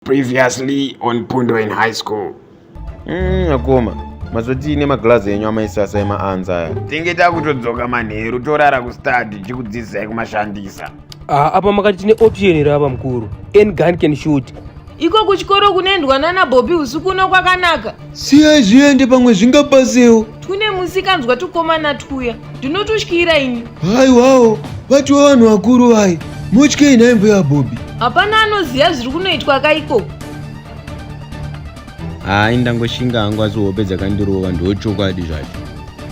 Previously on Pundoen High School. Mm, akoma mazotii nemaglazi enyu amaisasa emaanza aya tinge takutodzoka manheru torara kustadi tichikudzidzisai kumashandisa Ah, apa makati tine option here apa mukuru any gun can shoot iko kuchikoro kunoendwa nana bobi usiku uno kwakanaka siyai zviende pamwe zvingabasewo tune musikanzwa tukomana twuya ndinotutyira ini haiwawo vatiwo vanhu vakuru vaye motyei nhai mbuya bobi hapana anoziva zviri kunoitwa ka ikoko hayi ndangoshinga hangu asi hope dzakandirova ndochokwadi zvacho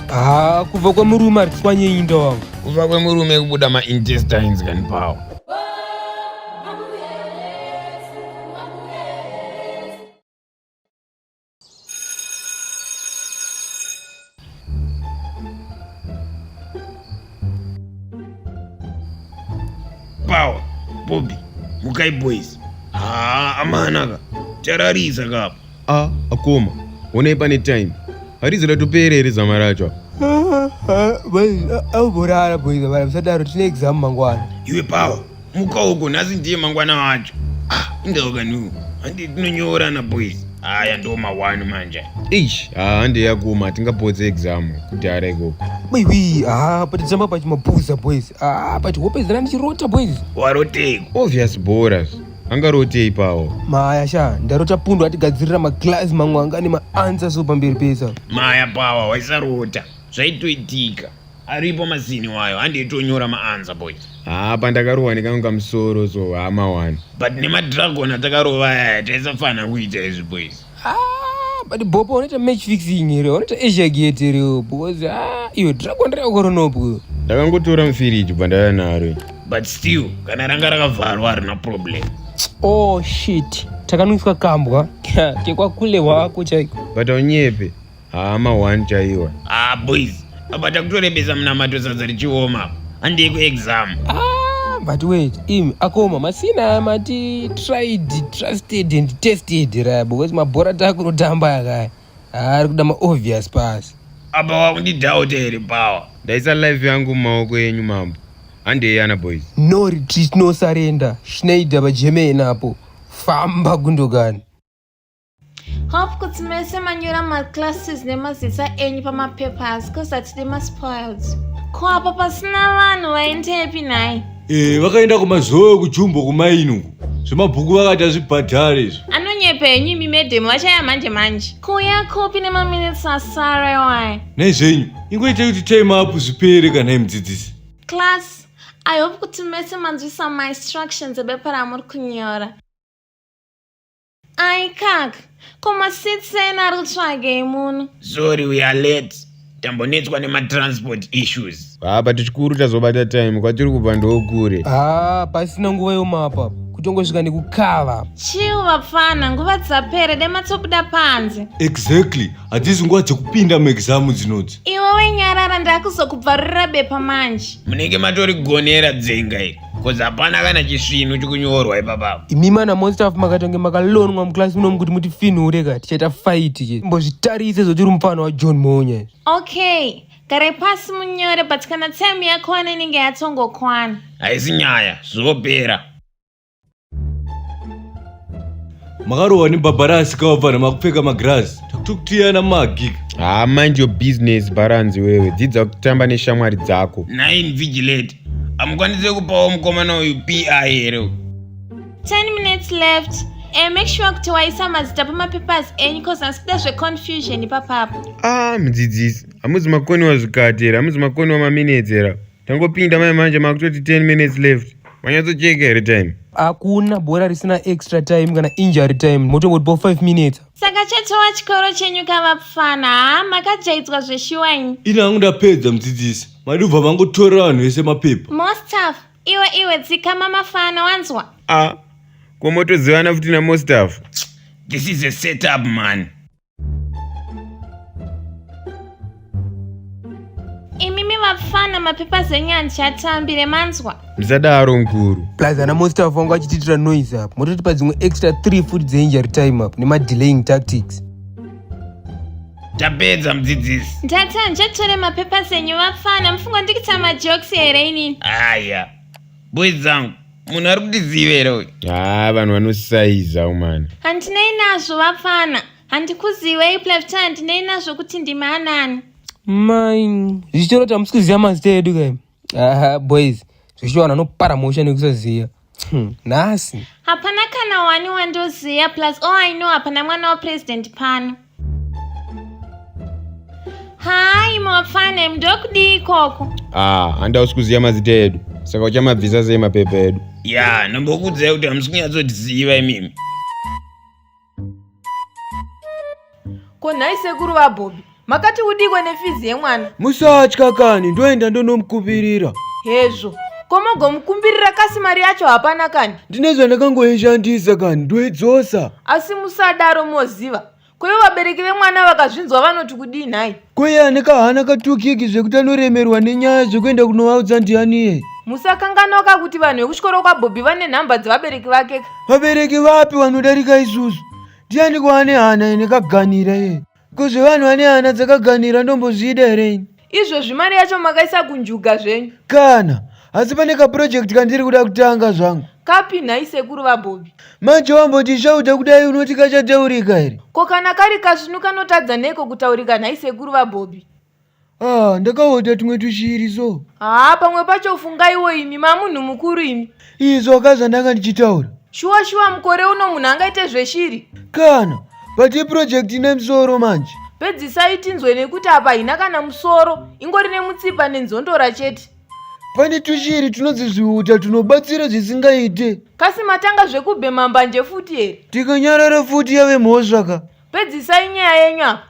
haa kubva kwemurume aritswanyeinda wangu kubva kwemurume kubuda maintestines kani pawo Power, Bobby, Mukai boys. Ah, amanaka. Chararisa kapa. A akoma, honai pane time. Harizi ratopera here zama racho? Auborara boys vana musadaro tine exam mangwana. Iwe power, muka uko nhasi ndiye mangwana wacho. Ah, indaoka nu. Handi tinonyorana boys. Haya ndo mawani manje. Eish, ah, handi yakoma tingapotse exam kudhara ikoko. Maiwi, ah, but zama pachimapuza boys. Ah, but hope zana ndichirota boys. Warotei? Obvious boras. angarotei pawo maya sha ndarota pundu atigadzirira maglazi mamwe anga ane maansa so pamberi pesa maya pawa waisarota zvaitoitika aripo mazini wayo andiitonyora maansa boys haa pandakarohwa nekanga musoro so hama wani but nemadragon atakarova aya taisafanira kuita izvi boys ah but bopo unoita match fixing here unoita asia gate here because ah iyo dragon reakoronopo ndakangotora mufiriji bva ndaya naro but still kana ranga rakavharwa harina problem oh shit takanwiswa kambwa kekwakulewa wako chaiko but aunyepe Haa ma one chaiwa. Ah boys, apa takutorembesa munamato sadza richioma. Handei ku exam. Ah, but wait, im akoma masina mati tried, trusted and tested right because mabhora takunotamba yakaya. Ah, ari kuda ma obvious pass. Apa wakundidhauta here power? Ndaisa life yangu mumaoko enyu mambo. Handei ana boys. No retreat, no surrender. Schneider pa German apo. Famba Gundogan. Hope kuti mese manyora maclasses nemazita enyu pamapapers cause hatidi maspoiled. Ko apa pasina vanhu vaendepi nhai? Eh, vakaenda kumazowe kujumbo kumaini uku. Zvemabhuku vakati hazvibhadhare izvo. Anonyepa henyu imi madam vachaya manje manje. Kuya kopi nemaminutes asara iwayo. Nei zvenyu, ingoita kuti time up zvipere kana imudzidzisi. Class, I hope kuti mese manzwisa mainstructions ebepa ramuri kunyora. Ai kak, ko masits ena ari kutsvagei muno? Sorry we are late. Tambonetswa nematransport issues. Ah, but chikuru tazobata time kwatiri kubva ndokure. Ah, pasina nguva yomapa kutongosvika nekukava. Chill vapfana, nguva dzapere dematsobuda panze. Exactly. Hadzisi nguva dzekupinda muexam dzinodzi. Iwe wenyarara ndakuzokubvarurira bepa manje. Munenge matorigonera dzenga iri. Kozi hapana kana chisvinu chikunyorwa ipapa. Imi mana most of makatange makalonwa muclass muno mukuti muti finhure ka tichaita fight ke. Mbozvitarise zoti uri mufana wa John Monya. Okay. Gare pasi munyore but kana time yakwana inenge yatsongokwana. Haisi nyaya, zvopera. makarohwa nebhabharasi kawabva nemakupfeka magirazi takutokutiyana magi haa mind your business bharanzi wewe dzidza kutamba neshamwari dzako nine vigilate hamukwanise kupawo mukomana uyu pi here 10 minutes left e make sure kuti waisa mazita pamapapers enyu cause asi kuda zveconfusion ipapapo ah mudzidzisi hamuzi makoniwa zvikatera hamuzi makoniwa maminetsera Tangopinda mai manje makutoti 10 minutes left. Wanyatsocheka here time? Hakuna bhora risina extra time kana injury time. Motongoti bo 5 minutes. Saka chatowa chikoro chenyu kavapfana. Ha makajaidzwa zveshuwa ini. Ini hangu ndapedza mudzidzisi. Madubva vangotora vanhu vese mapepa. Mostaf, iwe iwe dzikama mafana wanzwa. Ah, komotozivana futi na Mostaf. This is a setup man. imimi vapfana mapepa zenyanzi atambire manzwa ndisadaro mkuru plus ana monster vangu achitiitira noise apa mototipa dzimwe extra 3 futi dzeinjury time up nemadelaying tactics tapedza mudzidzisi ndata njetore mapepa zenyu vapfana mufunga ndikita majokes here inini aya boys dzangu munhu ari kutizivera uyu haa ah, vanhu vanosaiza umana handinei nazvo vapfana handikuzivei plefta handinei nazvo kuti ndimi anani main zvichitoro tamusi kuziva mazita edu kai aha boys zvichiwana anopara mosha nekusaziva hmm, nhasi hapana kana wani wandoziva plus all i know hapana mwana wapresident pano Hi mafane mndokudii ikoko? Ah, handa usikuziva mazita edu. Saka uchamabvisa sei mapepa edu? Ya, ndombokudzai kuti hamusi kunyatsotiziva imimi. Ko nhai sekuru vaBobby, makati udikwe nefizi yemwana? Musatya kani, ndoenda ndonomukupirira. Hezvo. Ko mogomukumbirira kasi mari yacho hapana kani? Ndine zvandakangoishandisa kani, ndoidzosa. asi musadaro moziva koivo vabereki vemwana vakazvinzwa vanoti kudii nhai koiye ane kahana katukiki zvekuti anoremerwa nenyaya zvekuenda kunovaudza ndianiye musakanganoka kuti vanhu vekuchikoro kwabhobhi vane nhamba dzevabereki vake vabereki vapi vanodarika isusu ndiani kwaane hana ine kaganira iye Ko zvevanhu vane hana dzakaganhira ndombozvida here ini? Izvozvi mari yacho makaisa kunjuga zvenyu. Kana asi pane kaproject kandiri kuda kutanga zvangu. Kapi nhai sekuru vaBhobi? Manje wamboti shauta kudai unoti kachataurika here? Ko kana kari kasvinu kanotadza neiko kutaurika nhai sekuru vaBhobi? ah ndakaota tumwe tushiri so haa pamwe pacho fungaiwo imi mamunhu mukuru imi izvo ka zvandanga ndichitaura shuwa shuwa mukore uno munhu angaite zveshiri kana but iproject ine musoro manje pedzisai tinzwe nekuti apa haina kana musoro ingori nemutsipa nenzondora chete pane tushiri tunonzi zviuta tunobatsira zvisingaite kasi matanga zvekubhema mbanje futi here tikanyarara futi yave mhosva ka pedzisai nyaya yenyu apa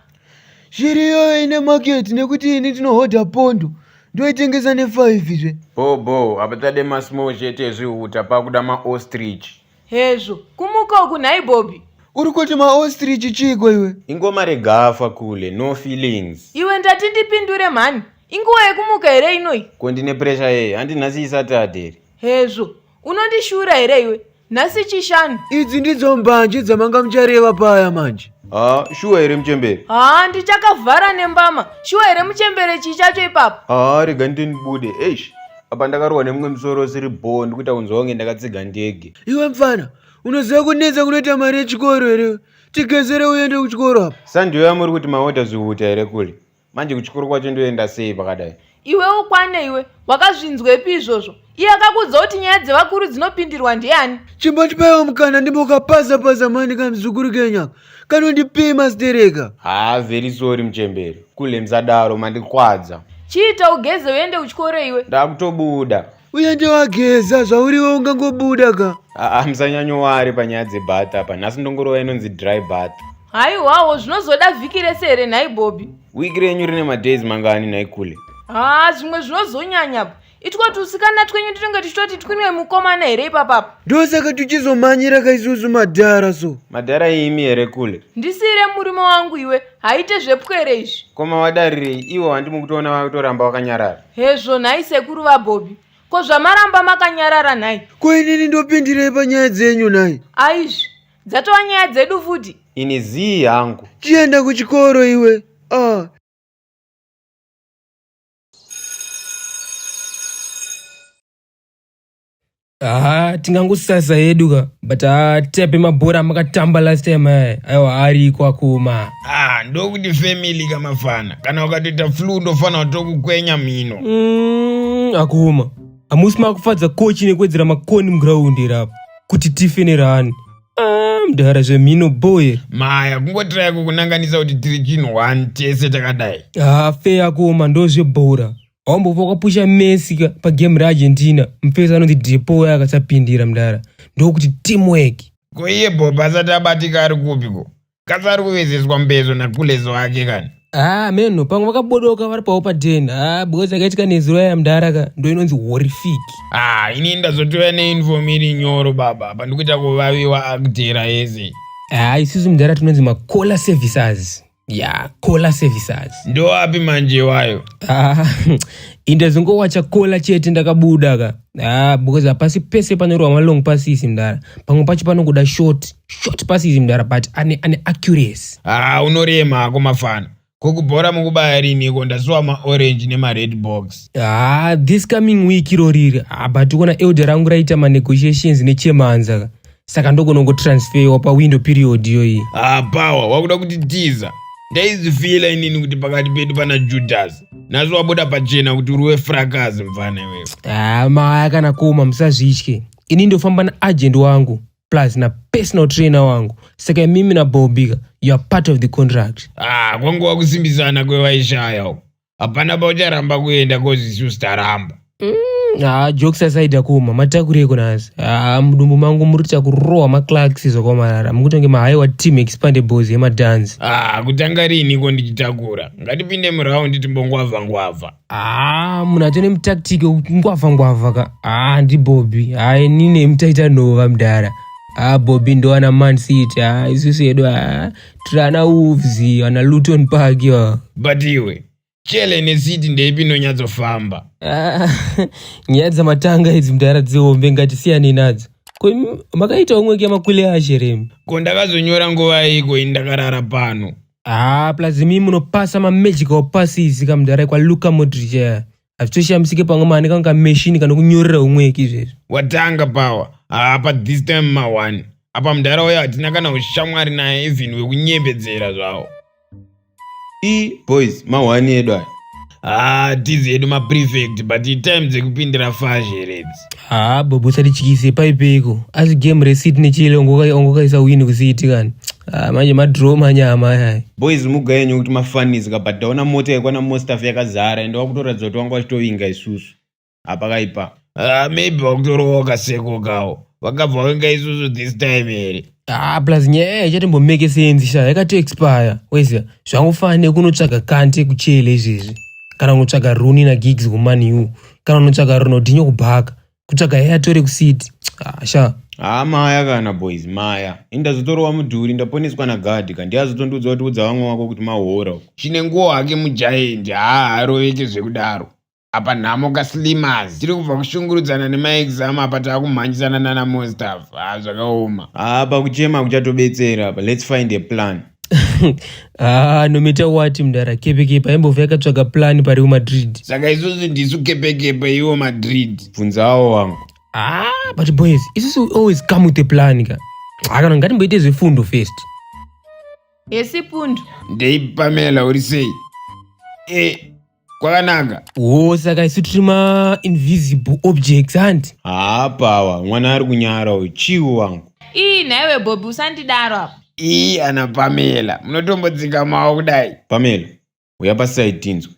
shiri iyoyo ine market nekuti ini ndinohodha pondo ndoitengesa nefive zve bho bho hapachade masmall chete ezvihuta pakuda maostrich hezvo kumuka uku nhai bobi uri kuti maostrich chiiko iwe ingoma regafa kule no feelings iwe ndati ndipindure mhani inguva yekumuka here inoyi ko ndine pressure yei handi nhasi isati aderi hezvo unondishura here iwe nhasi chishanu idzi ndidzo mbanje dzamanga muchareva paya manje ha shuwa here muchembere ha ndichakavhara nembama shuwa here muchembere chii chacho ipapo ha rega nditi ndibude eish apa ndakarohwa nemumwe musoro usiri bhoo ndikuita kunzwa kunge ndakatsiga ndege iwe mfana unoziva kunetsa kunoita mari yechikoro here tigezere uende kuchikoro apa sandiyo yamuri kuti maoda zvihuta here kule manje kuchikoro kwacho ndoenda sei pakadai iwe ukwane iwe wakazvinzwepi izvozvo iye akakuudza kuti nyaya dzevakuru dzinopindirwa ndiani chimbotipaiwo mukana ndimbokapaza paza mani kamzukuru kenyaka kanondipei mastereka haa vheri sori muchemberi kulemsadaro mandikwadza chiita ugeze uende kuchikoro iwe ndakutobuda uende wageza zvauriwo ungangobuda ka aa musanyanyowari panyaya dzebhat apa nhasi ndongorova inonzi dry bat haiwawo zvinozoda vhiki rese here nhai bobi wiki renyu rine madays mangani nhai kule haa zvimwe zvinozonyanya pa itwa tusikana twenyu tinenge tichitoti twinwe mukomana here ipapapa ndosaka tuchizomhanyira ka isusu madhara so madhara imi here kule ndisiire murume wangu iwe haite zvepwere izvi koma wadarirei iwo handi mukutoona vakutoramba wakanyarara Hezvo nhai sekuru vaBobby. Ko zvamaramba makanyarara nhai? Ko inini ndopindirei panyaya dzenyu nhai? Aizvi, dzatova nyaya dzedu futi. Ini zii hangu. Chienda kuchikoro iwe. Ah. haa tingangosasa hedu ka but haa tepe mabhora amakatamba last time aya aiwa ariko akoma ah ndokuti family kamafana kana ukatoita flu ndofana tokukwenya mhino Mm, akoma hamusi makufadza kochi nekuwedzera makoni mugiraundi here apa kuti tife nerani Ah, mdara zvemhino boye maya kungotiraya kukunanganisa kuti tiri chinhu one tese takadai haa fe akoma ndozvebhora Hombo pakapusha Messi pa game ra Argentina, mfesi anonzi Depo waya akasapindira mdara. Ndokuti teamwork. Ko iye Bob asati abatika ari kupi ko? Kasi ari kuvezeswa mbezo na Kulezo wake kani? Ah, meno pamwe vakabodoka vari pawo pa den. Ah, because akaitika nezuro ya mdara ka ndo inonzi horrific. Ah, ini ndazotouya ne inform iri nyoro baba. Apa ndikuita kuvaviwa akudera ese. Ah, isusu mdara tinonzi ma caller services. ya cola services ndoapi manje iwayo ah, inde zingowacha cola chete ndakabuda ka ah, because hapasi pese panorwa malong pasisi mdara pamwe pacho panongoda short short pasisi mdara but ane, ane accuracy ah, unorema hako mafana kokubhora mukubaya riniko ndasuwa maorange nemared box ah, this coming week iroriri ah, but ukona elde rangu raita manegotiations nechemanza ka saka ndogona kutransferwa pawindow period iyoyi ah power wakuda kutitiza ndaizifila inini kuti pakati pedu pana judhasi nazo wabuda pachena kuti uri wefrakazi mvana iwewe ah maya kana koma musazvitye ini ndofamba naagent wangu plus na personal trainer wangu saka imimi nabobika you are part of the contract ah kwanguva kusimbisana kwevaishaya uko hapana paucharamba kuenda kozisu sitaramba mm, haa jokes asaida kuoma matakureko nhasi haa mudumbu mangu muri kuita kurohwa maclarks zvakaomarara mukutonge mahaiwa team expande bos yemadhanzi haa kutanga riiniko ndichitakura ngatipinde muraundi timbongwavangwavha haa munhu atone mutaktiki wekungwavangwavha ka haa ndibobi haa inini mutaita nhova mdara haa bobi ndowana mancity haa isusu yedu haa tiri ana wolves ana luton park yo but iwe chele necity ndeipi inonyatsofamba Ah, nyaya dzamatanga idzi mdara dzihombe ngatisiyane nadzo ko imi makaita umwe kemakwile ashe remi ko ndakazonyora nguva iko ini ndakarara pano Ah, plus imi munopasa mamagicalpasses kamdara kwa luka modric aya hazvitoshamisike pamwe maane kanga meshini kana kunyorera umweki izvezvi watanga pawa apa this time mawani apa mudhara uya hatina kana ushamwari naye even wekunyembedzera zvawo e boys mawani edu aya haa tizi edu maprefect but time dzekupindira fazheredzi haa bobo usatityise paipeko asi game resit nechile ongokaisa wini kusiiti kani Ah, manje madraw manyama ayaya boys muga yenyu kuti mafanidzika but ndaona mota yekwana mostaf yakazara ende wakutoratidza kuti wanga wachitovinga isusu hapakaipa Ah, maybe wakutorowa kaseko kawo vakabva venga isusu this time here ah plus nyaya ichatombomeke senzi sha yakato expire weziva zvangofana nekunotsvaga kante kuchele izvezvi kana kunotsvaga runi nagigs kuman u kana unotsvaga ronodinho kubhaka kutsvaga heya tore kusiti hasha ah, haa ah, maya kana boys maya indazotorova mudhuri ndaponeswa nagadhi ka ndiazotondiudza kuti udza vamwe wako kuti mahora uko chine nguwo hake mujaendi haa haroveke zvekudaro apa nhamo kaslimas tiri kubva kushungurudzana nemaexam apa taakumhanjisana nana monstaff haa ah, zvakaoma haa pakuchema kuchatobetsera apa lets find a plan haa ah, nomita wati mdara kepekepe aimbove akatsvaga plani pariwo madrid saka isusu ndisu kepekepe iwo madrid bvunzawo wangu haa ah, but boys isusu always come with a plani ka akana ngatimboite zvefundo first yesipundo ndeipamela uri sei e kwakanaka wo saka isu tiri mainvisible objects handi haa pawa mwana ari kunyara uyu chiwo wangu ii nhaiwe bobi usandidaro apa ii ana pamela munotombodzika mawo kudai pamela uya pasaidi tinzwe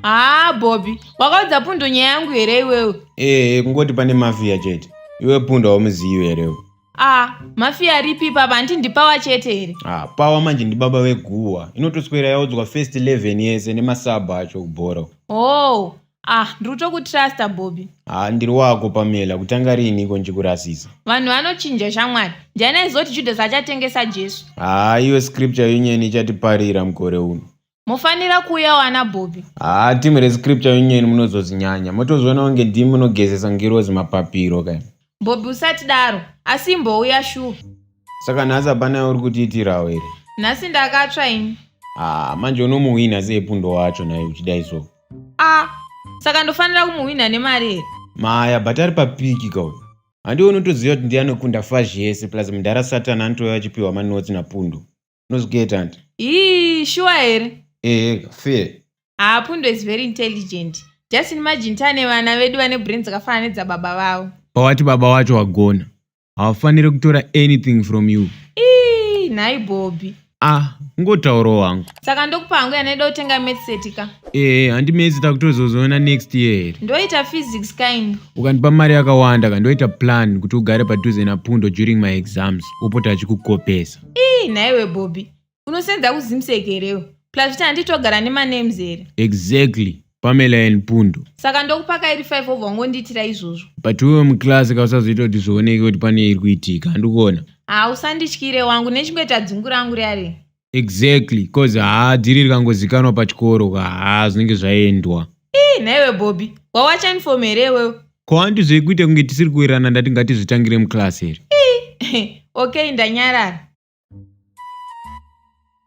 haa bobby wakaudza pundo nyaya yangu here iwewe ee kungoti pane mafiya chete iwe pundo haumuzivi here a mafiya aripi papa handiti ndipawa chete here ah, pawa manje ndibaba veguwa inotoswera yaudzwa first 11 yese nemasabha acho kubhora oh ah ndiri kutokutrusta bobby ha ndiri wako pamela kutanga riini iko ndichikurasisa vanhu vanochinja shamwari ndiani aizoti judhasi achatengesa jesu ha iwe scripture yonyeni ichatiparira mukore uno mofanira kuuya wana bhobi haa timu rescripture yonyeni munozozinyanya motozviona kunge ndimi munogezesa ngirozi mapapiro ka bhobi usati daro asi imbouya shuwa saka nhasi hapana yauri kutiitirawo here nhasi ndakatsva ini haa manje unomuhwinha sei pundo wacho naye uchidai so a saka ndofanira kumuhwinha nemari here maya but ari papiki ka uyu handiwe unotoziva kuti ndiye anokunda fazhi yese plus mudhara satan anotouya achipiwa manotsi napundo unozvigeeta hanti ii shuwa here ehe fair haa pundo is very intelligent just imagine tane vana vedu vane brain dzakafanana nedzababa vavo pawati baba wacho wagona havafanire kutora anything from you ii nhai bobby ah ngotauro wangu saka ndokupa hangu yanoida kutenga metseti ka ehe handi mesi takutozozoona next year here ndoita physics kind ukandipa mari yakawanda ka ndoita plan kuti ugare padhuze napundo during my exams upota achikukopesa ii nhaiwe bobby unosenza kuzimseki herewo plus futi handiti togara nemanems here exactly pamela and pundu saka ndokupa kairi 5 obva wangondiitira izvozvo but wewe muclass ka usazoita kuti zvioneke kuti pane iri kuitika handikuona haa usandityire wangu nechingoita dzungu rangu riya riya exactly cause haa dhiri rikangozikanwa pachikoro ka haa zvinenge zvaendwa ii nhaiwe bobby wawacha uniform here iwewe ko anti zvekuita kunge tisiri kuwirirana ndati ngatizvitangire muclass here okay ndanyarara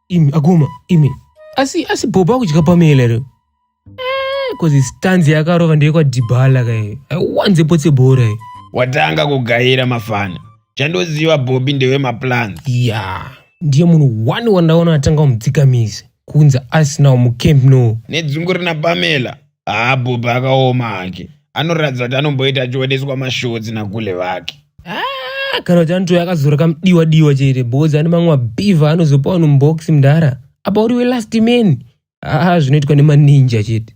imi aguma imi asi asi bhobo akudya pamela ro bcause eh, stanzi yakarova ndeyekwadhibhala kaye aiwanze potse bhora ye watanga kugaira mafana chandoziva bhobi ndewemaplans ya yeah. ndiye munhu one wandaona atanga kumudzikamizi kunzi asinawo mucamp no nedzungu rina pamela haa bhubha akaoma hake anoratidza kuti anomboita achioneswa mashotsi nakule vake Ah, kana kuti anotouya akazora kamudiwa diwa chete because ane mamwe mabhiva anozopa vanhu mubox mdara apa uri welast man aa zvinoitwa nemaninja chete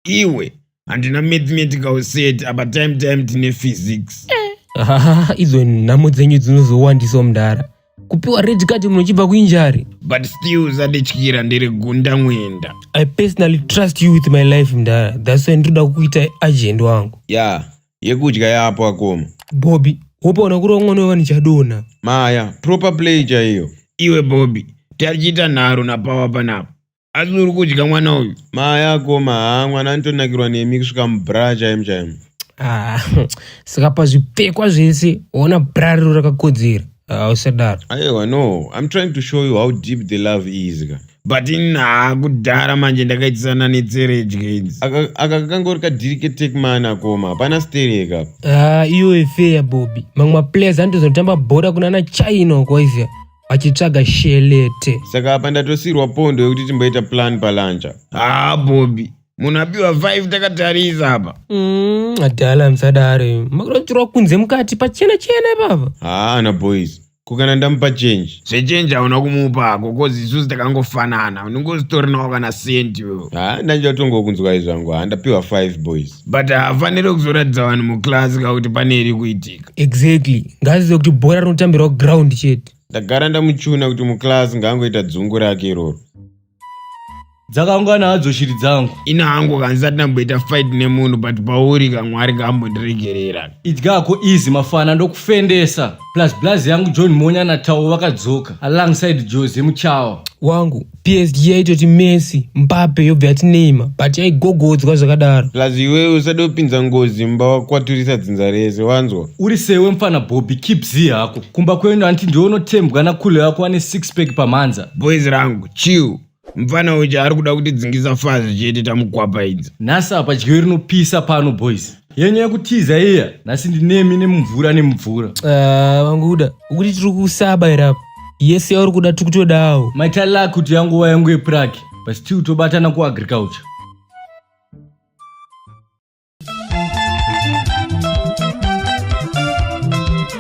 iwe handina mathematical set apa time time tine physics Ah, idzo nhamo dzenyu dzinozowandisawo mdara kupiwa red card munhu uchibva kuinjari but still usandityira ndiri gunda mwenda i personally trust you with my life mdara thats why ndinoda kukuita agent wangu ya yeah, yekudya yapo akoma bobi wopaona kuri wamwana wevanhu chadona maya proper play chaiyo iwe bobi tarichiita nharo napawa panapo asi uri kudya mwana uyu mayako maa mwana anotonakirwa nemi kusvika mubra chaimo chaimo ah, saka pazvipfekwa zvese ona bra riro rakakodzera ah, usadaro aiwa no im trying to show you how deep the love is ka but inaa kudhara manje ndakaitisana netseredye idzi aka kakangori kadiriketekman akoma hapana stereka ah, iyoyo feya bobi mamwe maplayers anotozotamba bhora kunana china uko aizia achitsvaga shelete saka apa ndatosirwa pondo yekuti timboita plan palanja haa ah, bobi munhu apiwa 5 takatarisa apa mm, adala musadare makurotirwa kunze mukati pachena chena ipapa haa ana boys kukana ndamupa change zvechange hauna kumupa ako kozi isusu takangofanana unenge usitorinawo kana sendi wewo ha ndandichatongo kunzwa izvangu handapiwa 5 boys but hafanire kuzoratidza vanhu muclass ka kuti pane iri kuitika exactly ngazive kuti bhora rinotambirwa ground chete ndagara ndamuchuna kuti muclass ngaangoita dzungu rake iroro dzakaungana hadzo shiri dzangu ini hangu kansati ndamboita fight nemunhu but pauri kamwari kambondiregerera idyako easy mafana ndokufendesa plus blaz yangu john monya natau vakadzoka alongside jose muchawa wangu psg yaitoti messi mbape yobva yati neima but yaigogodzwa zvakadaro plus iwewe usade kupinza ngozi mumba wakwaturisa dzinza rese wanzwa Uri sewe mfana Bobby keep zii hako. Kumba kwenyu hanti ndiwe unotembwa na Kule wako ane six pack pamhanza. boys rangu chill mfana uchi ari kuda kuti dzingisa fazi chete tamukwapa idzi Nhasi apa dyo rinopisa pano boys. yenyu yekutiza iya nhasi ndinemi nemumvura nemumvura Ah, vanguda ukuti tiri kusaba here apa yese yauri kuda tiri kutodawo maitala kuti yanguva yangu yeprague but still tobatana kuagriculture